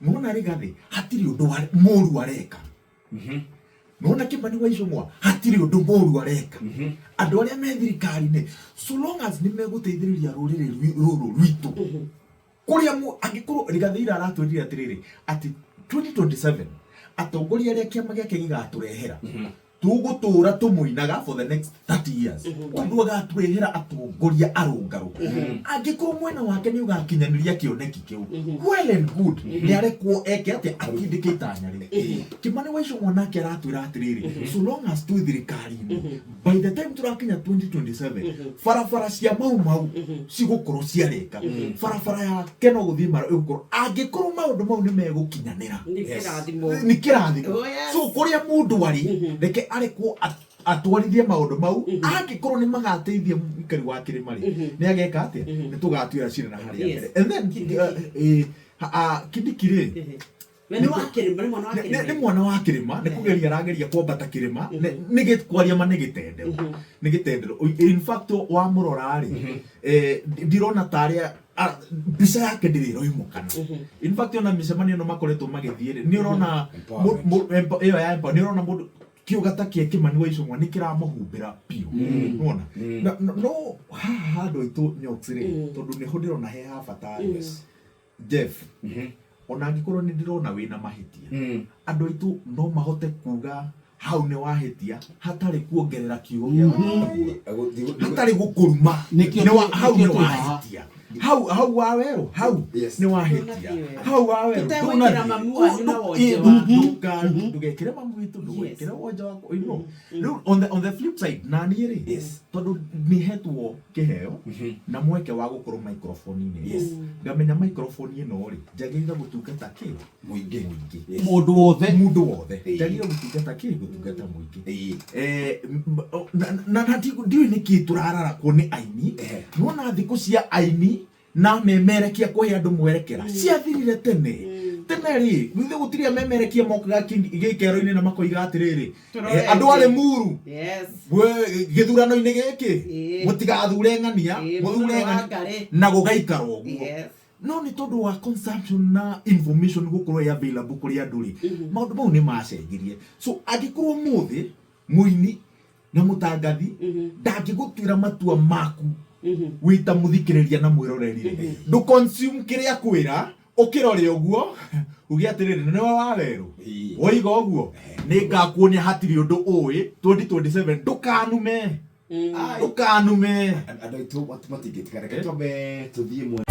Nona rigathi hatiri undu wa muru areka nona kimani wa icungwa hatiri undu muru areka andu aria me thirikari-ini so long as ni meguteithiriria ruriri rwi- ruru rwitu kuria mu angikorwo rigathi ira aratwirire atiriri ati 2027 atongoria aria kiama giake gigaturehera tũgũtũũra tũmũinaga for the next 30 years tondũ agatwehera atongoria arũngarũ angĩkorwo mwena wake nĩ ũgakinyanĩria kĩoneki kĩu well and good nĩ arekwo eke atĩ atindĩke itanya rĩu kĩmani waico mwanake aratwĩra atĩrĩrĩ so long as twĩ thirikari-inĩ by the time tũrakinya 2027 barabara cia mau mau cigũkorwo ciarĩka Mhm. barabara yake no guthiĩ mara ĩgũkorwo angĩkorwo maũndũ mau nĩ megũkinyanĩra nĩ kĩrathimo nĩ kĩrathimo Oh, yes. so kũrĩa mũndũ arĩ Mhm. reke arekwo at- atwarithie maũndũ mau Mhm. angĩkorwo nĩ magateithia mũikari wa kĩrĩma rĩ Mhm. nĩ ageka atĩa Mhm. nĩ tũgatuĩra cira na harĩa Yes. mbere and then Kindiki. uh, eh, ha- ah, kindiki rĩ Mhm. Na nĩ wa kĩrĩma, nĩ mwana wa Nĩ- nĩ nĩ kĩrĩma. mwana wa kĩrĩma nĩ kũgeria arageria kwambata kĩrĩma nĩ- nĩ gĩ- kwaria ma nĩ gĩtendero nĩ gĩtendero Oi- in fact wamũrora rĩ eh, ndi- ndirona ta arĩa a- mbica yake ndĩrĩ ĩroimũkana in fact ona mĩcemanio ĩno makoretwo magĩthiĩ rĩ nĩ ũrona mũ- mũ- empo- ĩyo ya empo- nĩ ũrona mũndũ kĩũga ta kĩa kĩmani wa icũng'wa nĩ kĩramũhumbĩra biũ nona no haha handũ aitũ nyox rĩ tondũ nĩho ndĩrona he ha bata yes Jeff, ona angĩkorwo nĩ ndĩrona wĩna mahĩtia andũ aitũ no mahote kuga hau nĩ wahĩtia hatarĩ kuongerera kiugo gĩa gũkũruma. hatarĩ gũkũruma Nĩkĩo Nĩ wa- tũ- hau nĩkĩo nĩ twĩ haha. wahĩtia hau hau wa werũ hau Yes. nĩ wahĩtia hau wa werũ Tũtegwĩkĩra mamu wanyu na wonje waku. ndũgekĩre mamu witũ ndũgekĩre wonje waku you know. Rĩu on the- on the flip side naniĩ rĩ Yes. tondũ nĩhetwo kĩheo na mweke wa gũkorwo microphone-inĩ ĩno. Ngamenya microphone ĩno-rĩ, njagĩrĩire gũtungata kĩ? Mũingĩ. Mũingĩ. Mũndũ wothe. Mũndũ wothe. Ĩĩ. Njagĩrĩire gũtungata kĩ? Gũtungata mũingĩ. Ĩĩ. Eh, m- m- o- na- na- na ti- ndiũĩ nĩkĩ tũrararakwo nĩ aini Ehe. nona thikũ cia aini na memerekia kũhe andũ mwerekera ciathirire tene tene rĩ githĩ gũtirĩ amemerekia mokaga kĩ- gĩikero-inĩ na makoiga atĩrĩrĩ Tũrore eh, andũ arĩ ĩngĩ. muru Yes. Gwe- gĩthurano-inĩ gĩkĩ Ĩĩ. mũtigathure ng'ania Ĩĩ, mũthure mũthure wa ng'ania ngarĩ. na gũgaikara ũguo Yes. no nĩ tondũ wa consumption na information gũkorwo ĩ available kũrĩ andũ rĩ maũndũ mau nĩ macenjirie so angĩkorwo mũthĩ mũini na mutangathi ndangigutuira matua maku wita muthikiriria na mwirorerire ndu consume kiria kwira ukirore uguo uge atiriri niwe wa weru Ii. woiga uguo ningakuonia hatiri undu ui 2027 ndukanume Ai. ndukanume andå aitå matingä tika reke twambe tå thiä mwena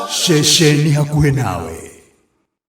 Shesheni hakuhĩ nawe